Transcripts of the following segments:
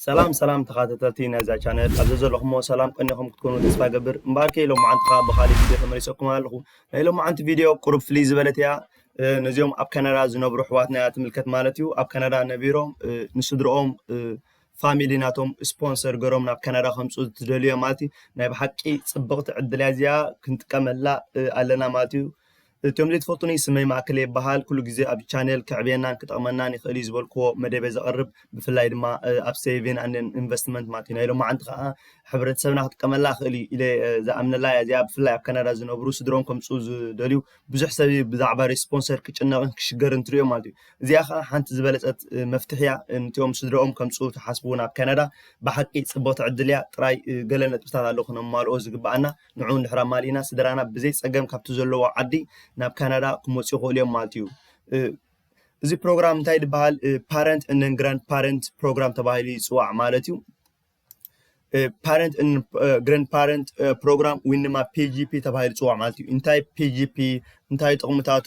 ሰላም ሰላም ተኻተተልቲ ናይዛ ቻነል ኣብ ዘዘለኹሞ ሰላም ቀኒኹም ክትኮኑ ተስፋ ገብር እምበኣርከ ሎማዓንቲ ከኣ ብኻሊእ ቪድዮ ተመሊሰኩም ኣለኹ ናይ ሎማዓንቲ ቪድዮ ቁሩብ ፍልይ ዝበለት እያ ነዚኦም ኣብ ካናዳ ዝነብሩ ኣሕዋትና እያ ትምልከት ማለት እዩ ኣብ ካናዳ ነቢሮም ንስድርኦም ፋሚሊ ናቶም ስፖንሰር ገሮም ናብ ካናዳ ከምፁ ዝደልዮ ማለት እዩ ናይ ብሓቂ ፅብቕቲ ዕድልያ እዚኣ ክንጥቀመላ ኣለና ማለት እዩ እቶም ዘይትፈልጡኒ ስመይ ማእከለ ይበሃል ኩሉ ግዜ ኣብ ቻነል ከዕብየናን ክጠቕመናን ይኽእል እዩ ዝበልክዎ መደብ እየ ዘቕርብ ብፍላይ ድማ ኣብ ሰይቪን ኣንድ ኢንቨስትመንት ማለት እዩ ናይ ሎማዓንቲ ከኣ ሕብረተሰብና ክጥቀመላ ይኽእል እዩ ኢለ ዝኣምነላ እያ እዚኣ ብፍላይ ኣብ ካናዳ ዝነብሩ ስድርኦም ከምጽኡ ዝደልዩ ብዙሕ ሰብ እዩ ብዛዕባ ሪስፖንሰር ክጭነቕን ክሽገርን ትርእዮ ማለት እዩ እዚኣ ከኣ ሓንቲ ዝበለጸት መፍትሒ እያ ንቲኦም ስድርኦም ከምጽኡ ትሓስቡ ናብ ካናዳ ብሓቂ ጽብቕቲ ዕድል እያ ጥራይ ገለ ነጥብታት ኣለዉ ክነማልኦ ዝግብኣና ንዑ እንድሕር ኣማሊእና ስድራና ብዘይ ጸገም ካብቲ ዘለዎ ዓዲ ናብ ካናዳ ክመጹ ይኽእሉ እዮም ማለት እዩ። እዚ ፕሮግራም እንታይ ዝበሃል ፓረንት እንን ግራንድ ፓረንት ፕሮግራም ተባሂሉ ይጽዋዕ ማለት እዩ። ፓረንት እንን ግራንድ ፓረንት ፕሮግራም ወይ ድማ ፒጂፒ ተባሂሉ ይጽዋዕ ማለት እዩ። እንታይ ፒጂፒ እንታይ ጥቕምታቱ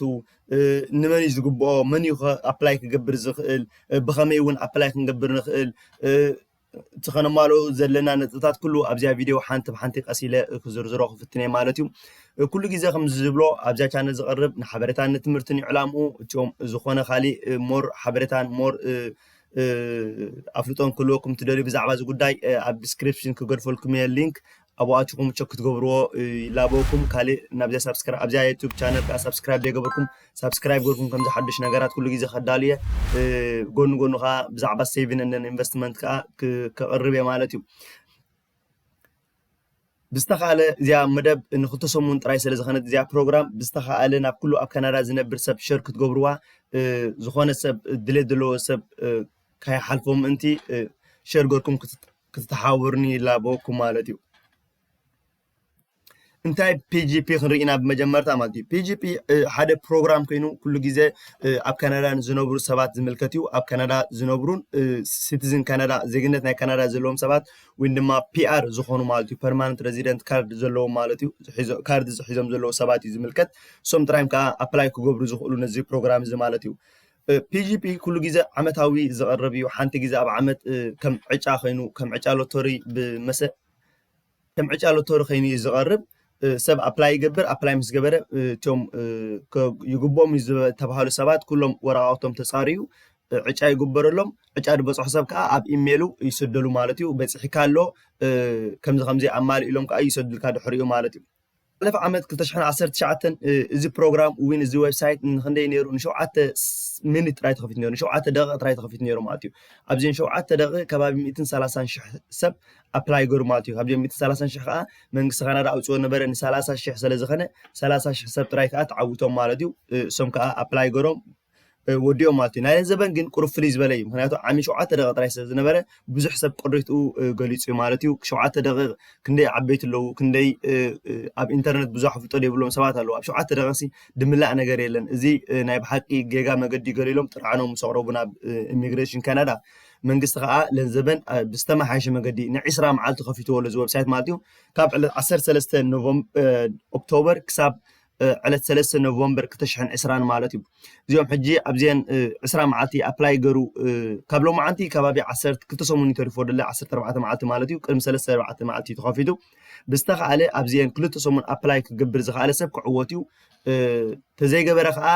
ንመን እዩ ዝግብኦ መን እዩ ኣፕላይ ክገብር ዝኽእል ብኸመይ እውን ኣፕላይ ክንገብር ንኽእል እቲ ከነማልኦ ዘለና ነጥብታት ኩሉ ኣብዚያ ቪድዮ ሓንቲ ብሓንቲ ቀስ ኢለ ክዝርዝሮ ክፍትን እየ ማለት እዩ ኩሉ ግዜ ከም ዝብሎ ኣብዚያ ቻነል ዝቐርብ ንሓበሬታን ንትምህርትን እዩ ዕላምኡ እትኦም ዝኾነ ካሊእ ሞር ሓበሬታን ሞር ኣፍልጦን ክህልወኩም ትደልዩ ብዛዕባ እዚ ጉዳይ ኣብ ዲስክሪፕሽን ክገድፈልኩም እየ ሊንክ ኣብኡ ኣቲኩም ቸክ ክትገብርዎ ይላበወኩም ካልእ ናብዚኣ ሳብስክራይብ ኣብዚኣ ዩቱብ ቻነል ከዓ ሳብስክራይብ ዘይገበርኩም ሳብስክራይብ ገርኩም ከምዚ ሓዱሽ ነገራት ኩሉ ግዜ ከዳሉ እየ ጎኑ ጎኑ ከዓ ብዛዕባ ሴቪን እንደን ኢንቨስትመንት ከዓ ከቅርብ እየ ማለት እዩ ብዝተኻእለ እዚኣ መደብ ንክልተ ሰሙን ጥራይ ስለ ዝኮነት እዚኣ ፕሮግራም ብዝተኻእለ ናብ ኩሉ ኣብ ካናዳ ዝነብር ሰብ ሸር ክትገብርዋ ዝኾነ ሰብ ድሌት ዘለዎ ሰብ ካይሓልፎ ምእንቲ ሸር ገርኩም ክትሓውርኒ ይላበወኩ ማለት እዩ እንታይ ፒጂፒ ክንርኢ ኢና ብመጀመርታ ማለት እዩ ፒጂፒ ሓደ ፕሮግራም ኮይኑ ኩሉ ግዜ ኣብ ካናዳ ንዝነብሩ ሰባት ዝምልከት እዩ ኣብ ካናዳ ዝነብሩን ሲቲዝን ካናዳ ዜግነት ናይ ካናዳ ዘለዎም ሰባት ወይ ድማ ፒኣር ዝኾኑ ማለት እዩ ፐርማነንት ሬዚደንት ካርድ ዘለዎም ማለት እዩ ካርድ ዝሒዞም ዘለዉ ሰባት እዩ ዝምልከት እሶም ጥራይም ከዓ ኣፕላይ ክገብሩ ዝኽእሉ ነዚ ፕሮግራም እዚ ማለት እዩ ፒጂፒ ኩሉ ግዜ ዓመታዊ ዝቐርብ እዩ። ሓንቲ ግዜ ኣብ ዓመት ከም ዕጫ ኮይኑ ከም ዕጫ ሎተሪ ብመሰ ከም ዕጫ ሎተሪ ኮይኑ እዩ ዝቐርብ። ሰብ ኣፕላይ ይገብር ኣፕላይ ምስ ገበረ እቶም ይግብኦም እዩ ዝተባሃሉ ሰባት ኩሎም ወረቓቕቶም ተፃርዩ ዕጫ ይግበረሎም ዕጫ ዝበፅሖ ሰብ ከዓ ኣብ ኢሜሉ ይስደሉ ማለት እዩ በፂሕካ ኣሎ ከምዚ ከምዚ ኣማልእሎም ከዓ ይሰዱልካ ድሕሪኡ ማለት እዩ ዝሓለፈ ዓመት ክልተ ሽሕን ዓሰርተ ትሽዓተን እዚ ፕሮግራም ዊን እዚ ዌብሳይት ንክንደይ ነይሩ ንሸውዓተ ሚኒት ጥራይ ተኸፊቱ ነይሩ ንሸውዓተ ደቂቕ ጥራይ ተኸፊቱ ነይሩ ማለት እዩ ኣብዘን ሸውዓተ ደቂቕ ከባቢ ሚእትን ሰላሳን ሽሕ ሰብ ኣፕላይ ገሩ ማለት እዩ ካብዚኦም ሚእትን ሰላሳን ሽሕ ከዓ መንግስቲ ካናዳ ኣውፅኦ ነበረ ንሰላሳ ሽሕ ስለ ዝኸነ ሰላሳ ሽሕ ሰብ ጥራይ ከዓ ተዓዊቶም ማለት እዩ እሶም ከዓ ኣፕላይ ገሮም ወዲኦም ማለት እዩ ናይን ዘበን ግን ቁሩብ ፍልይ ዝበለ እዩ ምክንያቱ ዓሚ ሸውዓተ ደቂቕ ጥራይ ስለ ዝነበረ ብዙሕ ሰብ ቅሬትኡ ገሊጹ እዩ ማለት እዩ ሸውዓተ ደቂቕ ክንደይ ዓበይቲ ኣለዉ ክንደይ ኣብ ኢንተርነት ብዙሕ ኣፍልጦ ዘይብሎም ሰባት ኣለዉ ኣብ ሸውዓተ ደቂቕሲ ድምላእ ነገር የለን እዚ ናይ ብሓቂ ጌጋ መገዲ ገሊሎም ጥርዓኖም ምስ ኣቕረቡ ናብ ኢሚግሬሽን ካናዳ መንግስቲ ከዓ ለንዘበን ብዝተመሓየሸ መገዲ ንዒስራ መዓልቲ ከፊትዎ ኣሎ እዚ ወብሳይት ማለት እዩ ካብ ዕለት ዓሰርተ ሰለስተ ኦክቶበር ክሳብ ዕለት ሰለስተ ኖቨምበር ክልተ ሽሕን ዕስራን ማለት እዩ እዚኦም ሕጂ ኣብዘን ዕስራ መዓልቲ ኣፕላይ ገሩ ካብ ሎማዓንቲ ከባቢ ዓሰርተ ክልተ ሰሙን እዩ ተሪፎ ደለ ዓሰርተ ኣርባዕተ መዓልቲ ማለት እዩ ቅድሚ ሰለስተ ኣርባዕተ መዓልቲ እዩ ተኸፊቱ ብዝተኸኣለ ኣብዘን ክልተ ሰሙን ኣፕላይ ክገብር ዝኸኣለ ሰብ ክዕወት እዩ ተዘይገበረ ከዓ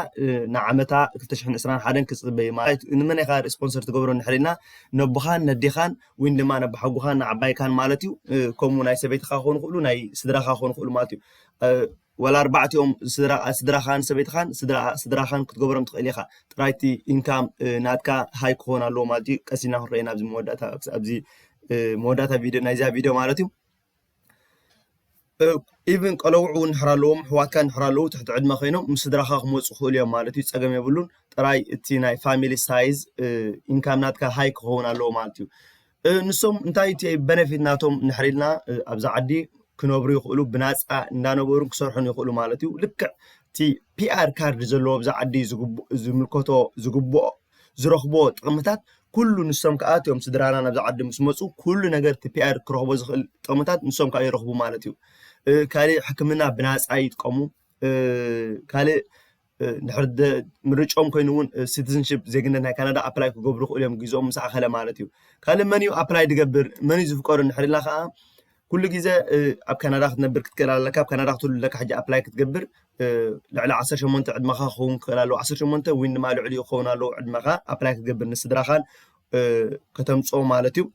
ንዓመታ ክልተ ሽሕን ዕስራን ሓደን ክፅበ እዩ ማለት ንመን ኢኻ ስፖንሰር ትገብሮ ንድሕር ኢልና ነቦኻን ነዴኻን ወይ ድማ ነባሓጉኻን ንዓባይካን ማለት እዩ ከምኡ ናይ ሰበይትኻ ክኾኑ ክእሉ ናይ ስድራኻ ክኾኑ ክእሉ ማለት እዩ ዋላ ኣርባዕቲኦም ስድራ ስድራኻን ሰበይትኻን ስድራ ስድራኻን ክትገብሮም ትኽእል ኢኻ ጥራይ እቲ ኢንካም ናትካ ሃይ ክኾን ኣለዎ ማለት እዩ ቀስ ኢልና ክንሪኦ ኢና ኣብዚ መወዳእታ ኣብዚ መወዳእታ ቪድዮ ናይዛ ቪድዮ ማለት እዩ ኢቭን ቀለውዕ እውን ንሕር ኣለዎም ኣሕዋትካ ንሕር ኣለዉ ትሕቲ ዕድመ ኮይኖም ምስ ስድራኻ ክመፁ ክኽእሉ እዮም ማለት እዩ ፀገም የብሉን ጥራይ እቲ ናይ ፋሚሊ ሳይዝ ኢንካም ናትካ ሃይ ክኸውን ኣለዎ ማለት እዩ ንሶም እንታይ እቲ በነፊት ናቶም ንሕሪ ኢልና ኣብዛ ዓዲ ክነብሩ ይኽእሉ ብናፃ እንዳነበሩ ክሰርሑን ይኽእሉ ማለት እዩ ልክዕ እቲ ፒኣር ካርድ ዘለዎ ኣብዛ ዓዲ ዝምልከቶ ዝግብኦ ዝረኽብዎ ጥቕምታት ኩሉ ንሶም ከዓ እቶም ስድራና ናብዚ ዓዲ ምስ መፁ ኩሉ ነገር እቲ ፒኣር ክረኽቦ ዝኽእል ጥቕምታት ንሶም ከዓ ይረኽቡ ማለት እዩ ካልእ ሕክምና ብናፃ ይጥቀሙ ካልእ ድሕሪ ምርጭኦም ኮይኑ እውን ሲቲዝንሽፕ ዜግነት ናይ ካናዳ ኣፕላይ ክገብሩ ክእሉ እዮም ግዝኦም ምስ ኣኸለ ማለት እዩ ካልእ መን እዩ ኣፕላይ ድገብር መን እዩ ዝፍቀዱ እንድሕር ኢልና ከዓ ኩሉ ግዜ ኣብ ካናዳ ክትነብር ክትክእል ኣለካ ኣብ ካናዳ ክትህሉ ኣለካ ሕጂ ኣፕላይ ክትገብር ልዕሊ 18 ዕድመኻ ክኸውን ክኽእል ኣለዎ 18 ወይ ድማ ልዕሊ ክኸውን ኣለዎ ዕድመኻ ኣፕላይ ክትገብር ንስድራኻን ከተምፅኦ ማለት እዩ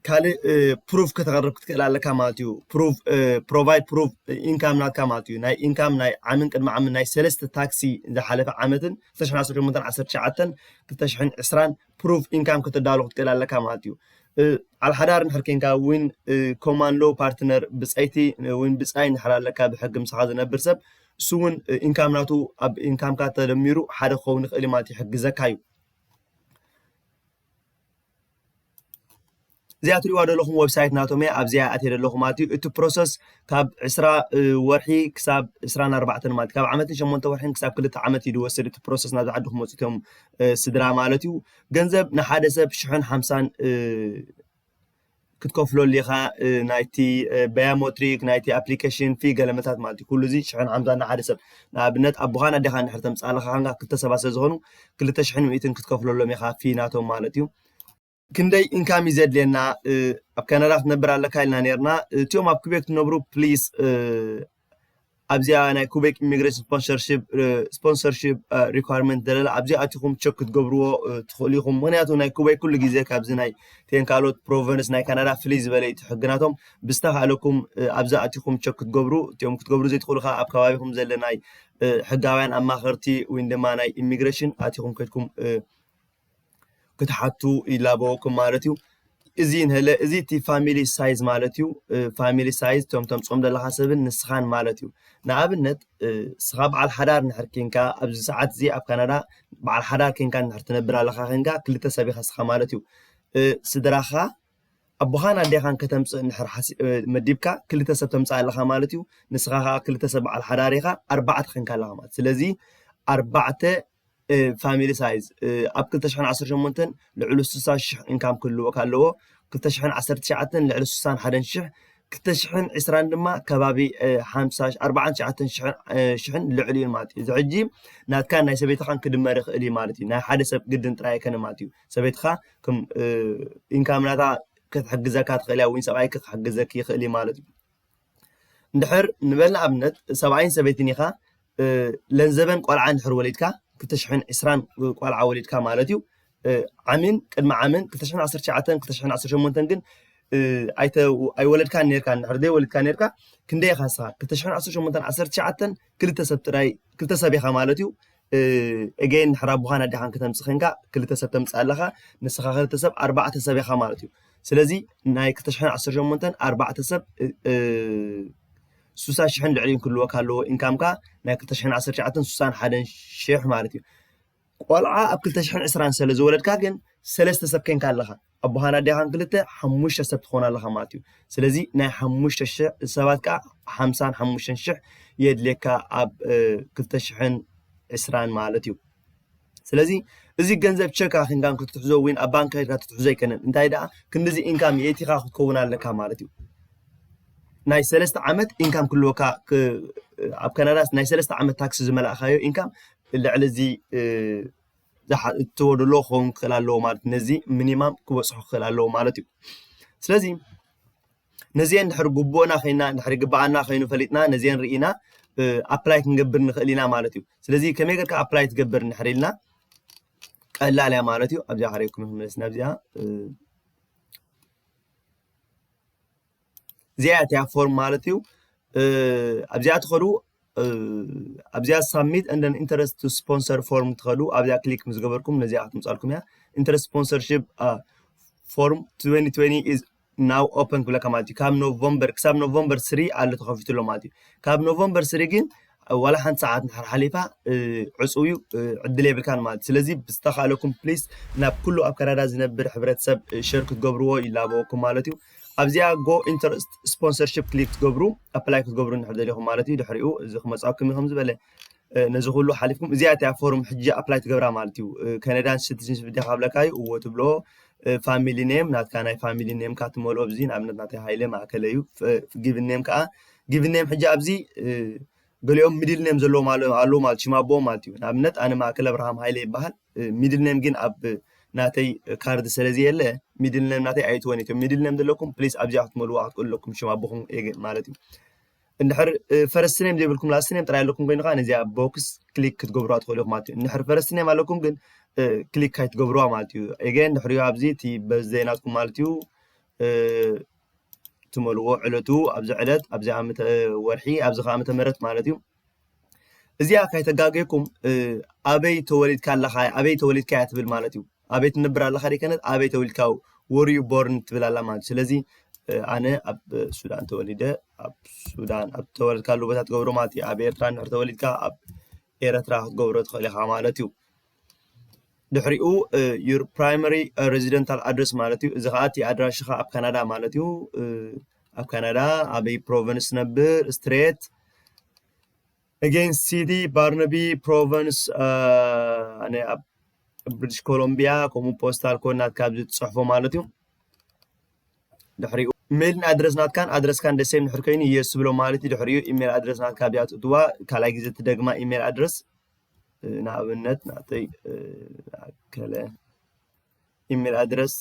ካልእ ፕሩፍ ከተቕርብ ክትክእል ኣለካ ማለት እዩ ፕሩፍ ፕሮቫይድ ፕሩፍ ኢንካም ናትካ ማለት እዩ ናይ ኢንካም ናይ ዓምን ቅድሚ ዓምን ናይ ሰለስተ ታክሲ ዝሓለፈ ዓመትን 2018 2020 ፕሩፍ ኢንካም ከተዳሉ ክትክእል ኣለካ ማለት እዩ ኣብ ሓዳር እንድሕር ኮንካ እውን ኮማን ሎ ፓርትነር ብፀይቲ እውን ብፃይ እንድሕር ኣለካ ብሕጊ ምሳኻ ዝነብር ሰብ እሱ እውን ኢንካም ናቱ ኣብ ኢንካምካ ተደሚሩ ሓደ ክኸውን ይኽእል ማለት ይሕግዘካ እዩ እዚኣ ትሪእዋ ዘለኹም ዌብሳይት ናቶም እያ ኣብዚኣ ኣትየ ዘለኹ ማለት እዩ እቲ ፕሮሰስ ካብ ዕስራ ወርሒ ክሳብ ዕስራን ኣርባዕተን ማለት ካብ ዓመትን ሸሞንተ ወርሒን ክሳብ ክልተ ዓመት እዩ ዝወስድ እቲ ፕሮሰስ ናብዚ ዓዲ ክመፁ እቶም ስድራ ማለት እዩ ገንዘብ ንሓደ ሰብ ሽሕን ሓምሳን ክትከፍሎ ኣሊኻ ናይቲ ባያሞትሪክ ናይቲ ኣፕሊኬሽን ፊ ገለመታት ማለት እዩ ኩሉ እዚ ሽሕን ሓምሳን ንሓደ ሰብ ንኣብነት ኣቦኻን ኣዴኻን ድሕር ተምፅኣልኻ ካንካ ክልተ ሰባት ስለ ዝኾኑ ክልተ ሽሕን ሚእትን ክትከፍለሎም ኢኻ ፊ ናቶም ማለት እዩ ክንደይ ኢንካም እዩ ዘድልየና ኣብ ካናዳ ክትነብር ኣለካ ኢልና ነርና እቲኦም ኣብ ክቤክ ትነብሩ ፕሊስ ኣብዚኣ ናይ ኩበክ ኢሚግሬሽን ስፖንሰርሺፕ ስፖንሰርሺፕ ሪኳርመንት ዘለላ ኣብዚ ኣቲኹም ቸክ ክትገብርዎ ትኽእሉ ኢኹም ምክንያቱ ናይ ኩበክ ኩሉ ግዜ ካብዚ ናይ ቴን ካልኦት ፕሮቨንስ ናይ ካናዳ ፍልይ ዝበለ እዩ ሕግናቶም ብዝተካእለኩም ኣብዚ ኣቲኹም ቸክ ክትገብሩ እቲኦም ክትገብሩ ዘይትኽእሉ ከዓ ኣብ ከባቢኹም ዘለ ናይ ሕጋውያን ኣማኸርቲ ወይ ድማ ናይ ኢሚግሬሽን ኣቲኹም ከድኩም ክትሓቱ ይላበወኩም ማለት እዩ እዚ ንለ እዚ እቲ ፋሚሊ ሳይዝ ማለት እዩ ፋሚሊ ሳይዝ እቶም ተምፅኦም ዘለካ ሰብን ንስኻን ማለት እዩ ንኣብነት ስኻ በዓል ሓዳር ንሕር ኬንካ ኣብዚ ሰዓት እዚ ኣብ ካናዳ በዓል ሓዳር ኬንካ ንሕር ትነብር ኣለካ ኬንካ ክልተ ሰብ ኢኻ ስኻ ማለት እዩ ስድራኻ ኣቦኻን ኣዴኻን ከተምጽእ እንድሕር መዲብካ ክልተ ሰብ ተምጽእ ኣለኻ ማለት እዩ ንስኻ ከዓ ክልተ ሰብ በዓል ሓዳር ኢኻ ኣርባዕተ ኸንካ ኣለኻ ማለት ስለዚ ኣርባዕተ ፋሚሊ ሳይዝ ኣብ 218 ልዕሉ 60 ሽሕ ኢንካም ክህልወካ ኣለዎ 219 ልዕሊ 61 ሽሕ 220 ድማ ከባቢ 49 ሽሕን ልዕሊ እዩ ማለት እዩ እዚ ሕጂ ናትካን ናይ ሰበይትኻን ክድመር ይኽእል እዩ ማለት እዩ ናይ ሓደ ሰብ ግድን ጥራይ ኣይከነ ማለት እዩ ሰበይትኻ ኢንካም ናታ ክትሕግዘካ ትኽእል እያ ወይ ሰብኣይኪ ክሕግዘኪ ይኽእል እዩ ማለት እዩ እንድሕር ንበልና ኣብነት ሰብኣይን ሰበይትን ኢኻ ለንዘበን ቆልዓ እንድሕር ወሊድካ ክልተ ሽሕን ዕስራን ቆልዓ ወሊድካ ማለት እዩ ዓምን ቅድሚ ዓምን ክልተ ሽሕን ዓሰርተ ትሽዓተን ክልተ ሽሕን ዓሰርተ ሸሞንተን ግን ኣይወለድካን ነርካ እንድሕር ዘይወለድካ ነርካ ክንደይ ኢኻ ንስኻ ክልተ ሽሕን ዓሰርተ ሸሞንተን ዓሰርተ ትሽዓተን ክልተ ሰብ ጥራይ ክልተ ሰብ ኢኻ ማለት እዩ እገይን ንሕር ኣቦኻን ኣዴኻን ክተምጽእ ኴንካ ክልተ ሰብ ተምጽእ ኣለኻ ንስኻ ክልተ ሰብ ኣርባዕተ ሰብ ኢኻ ማለት እዩ ስለዚ ናይ 218 ኣርባዕተ ሰብ ሱሳ ሽሕን ልዕሊን ክህልወካ ኣለዎ ኢንካምካ ናይ 219 ሱሳን ሓደን ሽሕ ማለት እዩ ቆልዓ ኣብ 220 ስለ ዝወለድካ ግን ሰለስተ ሰብ ኴንካ ኣለኻ ኣቦኻን ኣዴኻን ክልተ ሓሙሽተ ሰብ ትኾን ኣለኻ ማለት እዩ ስለዚ ናይ ሓሙሽተ ሽሕ ሰባት ከዓ ሓምሳን ሓሙሽተን ሽሕ የድልየካ ኣብ ክልተ ሽሕን ዕስራን ማለት እዩ ስለዚ እዚ ገንዘብ ቸካ ክንካን ክትትሕዞ ወይ ኣብ ባንክ ከድካ ትትሕዞ ኣይከነን እንታይ ደኣ ክንዲዚ ኢንካም የእቲኻ ክትከውን ኣለካ ማለት እዩ ናይ ሰለስተ ዓመት ኢንካም ክልወካ ኣብ ካናዳ ናይ ሰለስተ ዓመት ታክሲ ዝመላእካዮ ኢንካም ልዕሊ እዚ እትወድሎ ክኸውን ክኽእል ኣለዎ ማለት እዩ። ነዚ ሚኒማም ክበፅሑ ክኽእል ኣለዎ ማለት እዩ። ስለዚ ነዚኤን ድሕሪ ግቡእና ኮይና ድሕሪ ግብኣና ኮይኑ ፈሊጥና ነዚኤን ርኢና ኣፕላይ ክንገብር ንኽእል ኢና ማለት እዩ። ስለዚ ከመይ ጌርካ ኣፕላይ ትገብር እንድሕር ኢልና ቀላል እያ ማለት እዩ። ኣብዚኣ ሓሪግኩም ክንመለስ ናብዚኣ እዚኣ እያ እቲኣ ፎርም ማለት እዩ ኣብዚኣ ትኸዱ ኣብዚኣ ሳሚት እንደን ኢንተረስት ቱ ስፖንሰር ፎርም ትኸዱ ኣብዚኣ ክሊክ ምስ ገበርኩም ነዚኣ ክትምፃልኩም እያ ኢንተረስት ስፖንሰርሽፕ ፎርም 2020 ኢዝ ናው ኦፐን ክብለካ ማለት እዩ ካብ ኖቨምበር ክሳብ ኖቨምበር ስሪ ኣሎ ተኸፊቱ ኣሎ ማለት እዩ ካብ ኖቨምበር ስሪ ግን ዋላ ሓንቲ ሰዓት እንድሕር ሓሊፋ ዕጹው እዩ ዕድል የብልካን ማለት ስለዚ ብዝተኻእለኩም ፕሊስ ናብ ኩሉ ኣብ ካናዳ ዝነብር ሕብረተሰብ ሸር ክትገብርዎ ይላበወኩም ማለት እዩ ኣብዚኣ ጎ ኢንተረስት ስፖንሰርሽፕ ክሊክ ትገብሩ ኣፕላይ ክትገብሩ እንድሕር ደሊኹም ማለት እዩ ድሕሪኡ እዚ ክመፅኣኩም እዩ ከምዝበለ ነዚ ኩሉ ሓሊፍኩም እዚኣ እቲያ ፎርም ሕጂ ኣፕላይ ትገብራ ማለት እዩ ከነዳን ሲቲዝንሽፕ ዲኻ ብለካ እዩ እዎ ትብሎ ፋሚሊ ኔም ናትካ ናይ ፋሚሊ ኔምካ ትመልኦ ብዚ ንኣብነት ናተይ ሃይለ ማእከለ እዩ ጊቭን ኔም ከዓ ጊቭን ኔም ሕጂ ኣብዚ ገሊኦም ሚድል ኔም ዘለዎም ኣለዉ ማለት ሽም ኣቦኦም ማለት እዩ ንኣብነት ኣነ ማእከል ኣብርሃም ሃይለ ይበሃል ሚድል ኔም ግን ኣብ ናተይ ካርድ ስለ ዘየለ ሚድል ኔም ናተይ ኣይትወን እቶም ሚድል ኔም ዘለኩም ፕሊስ ኣብዚኣ ክትመልዋ ክትክእሉ ኣለኩም ሽም ኣቦኹም ማለት እዩ እንድሕር ፈረስቲ ኔም ዘይብልኩም ላስቲ ኔም ጥራይ ኣለኩም ኮይኑ ከዓ ነዚኣ ቦክስ ክሊክ ክትገብሩዋ ትኽእሉ ኢኹም ማለት እዩ እንድሕር ፈረስቲ ኔም ኣለኩም ግን ክሊክ ኣይትገብሩዋ ማለት እዩ ኤገ እንድሕሪዮ ኣብዚ እቲ በዘይ ናትኩም ማለት እዩ ትመልእዎ ዕለቱ ኣብዚ ዕለት ኣብዚ ዓመተ ወርሒ ኣብዚ ከዓ ዓመተ ምህረት ማለት እዩ እዚኣ ከይተጋገኩም ኣበይ ተወሊድካ ኣለካ ኣበይ ተወሊድካ እያ ትብል ማለት እዩ ኣበይ ትነብር ኣለካ ደይከነት ኣበይ ተወሊድካ ወርዩ ቦርን ትብል ኣላ ማለት እዩ ስለዚ ኣነ ኣብ ሱዳን ተወሊደ ኣብ ሱዳን ኣብ ተወለድካሉ ቦታ ትገብሮ ማለት እዩ ኣብ ኤርትራ እንድሕር ተወሊድካ ኣብ ኤረትራ ክትገብሮ ትኽእል ኢኻ ማለት እዩ ድሕሪኡ ዩር ፕራይመሪ ሬዚደንታል ኣድረስ ማለት እዩ እዚ ከዓ እቲ ኣድራሽኻ ኣብ ካናዳ ማለት እዩ ኣብ ካናዳ ኣበይ ፕሮቨንስ ነብር ስትሬት ኣጌን ሲቲ ባርነቢ ፕሮቨንስ ናይ ኣብ ብሪቲሽ ኮሎምቢያ ከምኡ ፖስታል ኮድ ናትካ ኣብዚ ትፅሕፎ ማለት እዩ ድሕሪኡ ሜልን ኣድረስ ናትካን ኣድረስካን ደሴም ድሕር ኮይኑ የስ ብሎ ማለት እዩ ድሕሪኡ ኢሜል ኣድረስ ናትካ ብያ ትእትዋ ካልኣይ ግዜ ትደግማ ኢሜል ኣድረስ ንኣብነት ናተይ ኣከለ ኢሜል ኣድረስ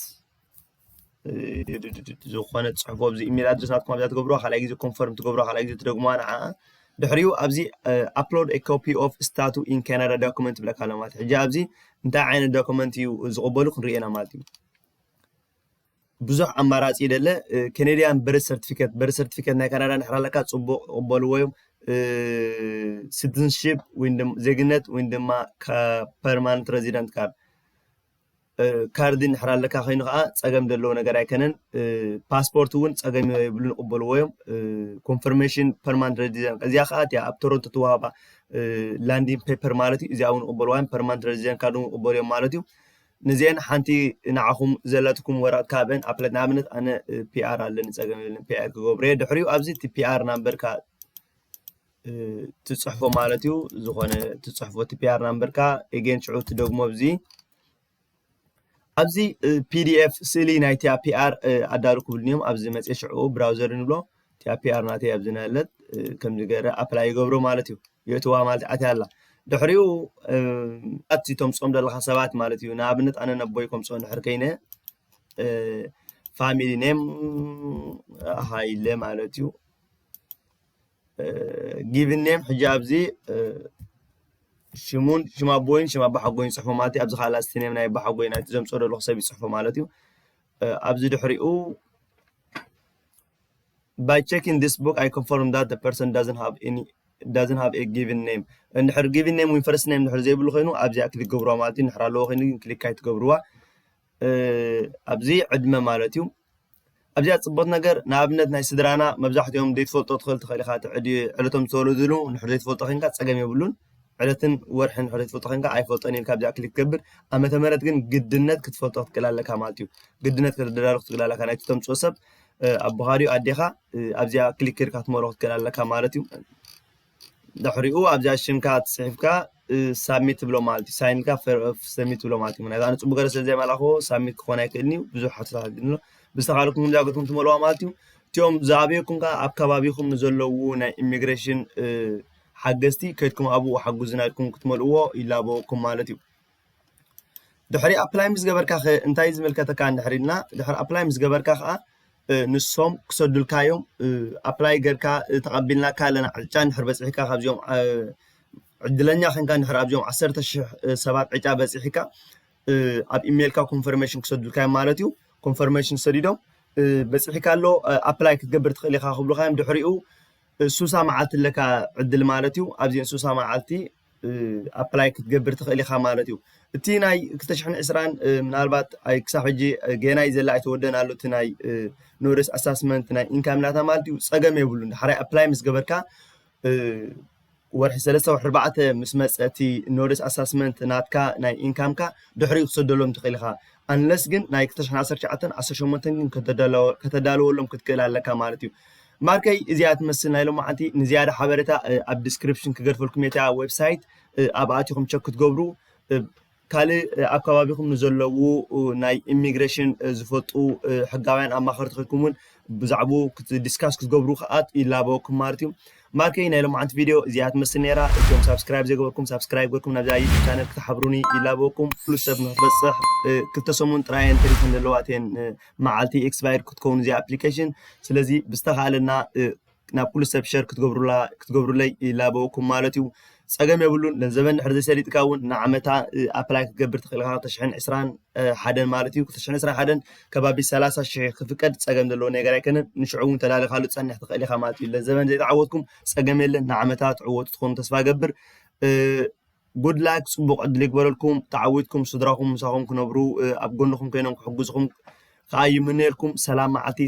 ዝኾነ ፅሕፎ ኣብዚ ኢሜል ኣድረስ ናትኩም ኣብዛ ትገብሮ ካልኣይ ግዜ ኮንፈርም ትገብሮ ካልኣይ ግዜ ትደግምዋ ንዓ ድሕሪኡ ኣብዚ ኣፕሎድ ኤ ኮፒ ኦፍ ስታቱ ኢን ካናዳ ዶክመንት ብለካ ኣሎ ማለት ሕጂ ኣብዚ እንታይ ዓይነት ዶክመንት እዩ ዝቕበሉ ክንሪኤና ማለት እዩ ብዙሕ ኣማራጺ ደለ ከነድያን በርት ሰርቲፊከት በርት ሰርቲፊከት ናይ ካናዳ ንሕር ኣለካ ጽቡቅ ይቕበልዎ እዮም ሲቲዝንሽፕ ወይ ዜግነት ወይ ድማ ፐርማንት ረዚደንት ካርድ ካርዲ ንሕር ኣለካ ኮይኑ ከዓ ፀገም ዘለዎ ነገር ኣይከነን ፓስፖርት እውን ፀገም የብሉ ንቕበልዎ እዮም ኮንፈርሜሽን ፐርማንት ረዚደንት እዚኣ ከዓ እቲያ ኣብ ቶሮንቶ ትዋሃባ ላንዲን ፔፐር ማለት እዩ እዚኣ እውን ንቕበልዋ እዮም ፐርማንት ረዚደንት ካርድ እውን ንቕበሉ እዮም ማለት እዩ ንዚኤን ሓንቲ ንዓኹም ዘለትኩም ወረቅት ካብኤን ኣፕለት ንኣብነት ኣነ ፒኣር ኣለኒ ጸገም የብልን ፒኣር ክገብርየ ድሕሪኡ ኣብዚ እቲ ፒኣር ናምበርካ ትጽሕፎ ማለት እዩ ዝኾነ ትጽሕፎ እቲ ፒኣር ናምበርካ ኤጌን ሽዑ ትደግሞ ኣብዚ ኣብዚ ፒዲኤፍ ስእሊ ናይቲ ፒኣር ኣዳሉ ክብልኒ እዮም ኣብዚ መጽ ሽዑ ብራውዘር ንብሎ እታ ፒኣር ናተይ ኣብዚ ናለት ከምዚ ገረ ኣፕላይ ይገብሮ ማለት እዩ የእትዋ ማለት ኣትያ ኣላ ድሕሪኡ ኣቲ ተምፅኦም ዘለካ ሰባት ማለት እዩ ንኣብነት ኣነ ነቦይ ከምፅኦ ድሕር ከይነ ፋሚሊ ኔም ሃይለ ማለት እዩ ጊቭን ኔም ሕጂ ኣብዚ ሽሙን ሽም ኣቦይን ሽም ኣባሓጎይን ይፅሕፎ ማለት እዩ ኣብዚ ከዓ ላስቲ ኔም ናይ ኣባሓጎይ ናይቲ ዘምፅኦ ዘለኩ ሰብ ይፅሕፎ ማለት እዩ ኣብዚ ድሕሪኡ By checking this book I confirm that the person doesn't have any doesn't have a given name እንድሕር given name ወይ first name እንድሕር ዘይብሉ ኮይኑ ኣብዚኣ ክሊክ ገብሩዋ ማለት እዩ እንድሕር ኣለዎ ኮይኑ ግን ክሊክ ኣይትገብሩዋ ኣብዚ ዕድመ ማለት እዩ ኣብዚኣ ፅቡቅ ነገር ንኣብነት ናይ ስድራና መብዛሕትኦም ዘይትፈልጦ ትኽእል ትኽእል ኢኻ ዕለቶም ዝተወለድሉ እንድሕር ዘይትፈልጦ ኮይንካ ፀገም የብሉን ዕለትን ወርሕን ድሕሪ ትፈልጦ ኮይንካ ኣይፈልጦን ኢልካ ብዛዕባ ክሊክ ትገብር ዓመተ ምህረት ግን ግድነት ክትፈልጦ ክትክእል ኣለካ ማለት እዩ ግድነት ከተደራሪ ክትክእል ኣለካ ናይቲ ተምፅኦ ሰብ ኣቦኻ ድዩ ኣዴኻ ኣብዚኣ ክሊክ ጌርካ ክትመሮ ክትክእል ኣለካ ማለት እዩ ድሕሪኡ ኣብዚኣ ሽምካ ፅሒፍካ ሳብሚት ትብሎ ማለት እዩ ሳይን ኢልካ ሰሚት ትብሎ ማለት እዩ ምክንያቱ ኣነ ፅቡቅ ገረ ስለ ዘይመላኽዎ ሳብሚት ክኾን ኣይክእልን እዩ ብዙሕ ሓቶታት ግን ብዝተኻለኩም ከምዚኣ ገርኩም ትመልዋ ማለት እዩ እቲኦም ዝኣብየኩም ከዓ ኣብ ከባቢኹም ንዘለዉ ናይ ኢሚግሬሽን ሓገዝቲ ከድኩም ኣብኡ ሓጉዙና ኢልኩም ክትመልእዎ ይላበወኩም ማለት እዩ ድሕሪ ኣፕላይ ምስ ገበርካ ከ እንታይ ዝምልከተካ እንድሕር ኢልና ድሕሪ ኣፕላይ ምስ ገበርካ ከዓ ንሶም ክሰዱልካ እዮም ኣፕላይ ገርካ ተቐቢልናካ ኣለና ዕጫ እንድሕር በፂሕካ ካብዚኦም ዕድለኛ ኮንካ እንድሕር ኣብዚኦም ዓሰርተ ሽሕ ሰባት ዕጫ በፂሕካ ኣብ ኢሜይልካ ኮንፈርሜሽን ክሰዱልካ እዮም ማለት እዩ ኮንፈርሜሽን ሰዲዶም በፂሕካ ኣሎ ኣፕላይ ክትገብር ትኽእል ኢኻ ክብሉካ እዮም ድሕሪኡ እንሱሳ መዓልቲ ኣለካ ዕድል ማለት እዩ ኣብዚ እንሱሳ መዓልቲ ኣፕላይ ክትገብር ትኽእል ኢኻ ማለት እዩ እቲ ናይ 220 ምናልባት ኣይ ክሳብ ሕጂ ገና እዩ ዘላ ኣይተወደን ኣሎ እቲ ናይ ኖርስ ኣሳስመንት ናይ ኢንካም ናታ ማለት እዩ ፀገም የብሉን ሓራይ ኣፕላይ ምስ ገበርካ ወርሒ ሰለስተ ወርሒ ኣርባዕተ ምስ መጸ እቲ ኖርደስ ኣሳስመንት ናትካ ናይ ኢንካምካ ድሕሪኡ ክትሰደሎም ትኽእል ኢኻ ኣንለስ ግን ናይ ክልተ ሽሕን ዓሰርተ ትሽዓተን ዓሰርተ ሸሞንተን ግን ከተዳለወ- ከተዳልወሎም ክትክእል ኣለካ ማለት እዩ ማርከይ እዚኣ ትመስል ናይ ሎማዓንቲ ንዝያዳ ሓበሬታ እ፣ ኣብ ዲስክሪፕሽን ክገድፈልኩም እየ እታ ዌብሳይት እ፣ ኣብኣ ኣቲኹም ቸክ ክትገብሩ እ፣ ካልእ ኣብ ከባቢኹም ንዘለዉ ናይ ኢሚግሬሽን ዝፈልጡ ሕጋውያን ኣማኸርቲ ኮይንኩም እውን ብዛዕብኡ ዲስካስ ክትገብሩ ከዓ ይላበወኩም ማለት እዩ ማርከይ ናይ ሎማዓንቲ ቪድዮ እዚኣ ትመስል ነይራ እቶም ሳብስክራይብ ዘይገበርኩም ሳብስክራይብ ገርኩም ናብዛ ዩቱብ ቻነል ክትሓብሩኒ ይላበወኩም ፍሉስ ሰብ ንክትበፅሕ ክልተ ሰሙን ጥራየን ተሪፈን ዘለዋ እተን መዓልቲ ኤክስፓየር ክትከውን እዚኣ ኣፕሊኬሽን ስለዚ ብዝተኻእለና ናብ ኩሉ ሰብ ሸር ክትገብሩላ ክትገብሩለይ ይላበወኩም ማለት እዩ ጸገም የብሉን ገንዘበን ድሕሪ ዘይሰሊጥካ እውን ንዓመታ ኣፕላይ ክትገብር ትኽእል ኢኻ ክልተ ሽሕን ዕስራን ሓደን ማለት እዩ ክልተ ሽሕን ዕስራን ሓደን ከባቢ ሰላሳ ሽሕ ክፍቀድ ጸገም ዘለዎ ነገር ኣይከነን ንሽዑ እውን ተዳሊኻሉ ትጸንሕ ትኽእል ኢኻ ማለት እዩ ገንዘበን ዘይተዓወትኩም ጸገም የለን ንዓመታ ትዕወቱ ትኾኑ ተስፋ ገብር ጉድ ላክ ጽቡቕ ዕድል ይግበረልኩም ተዓዊትኩም ስድራኹም ምሳኹም ክነብሩ ኣብ ጎንኹም ኮይኖም ክሕግዝኹም ከዓ ይምነየልኩም ሰላም መዓልቲ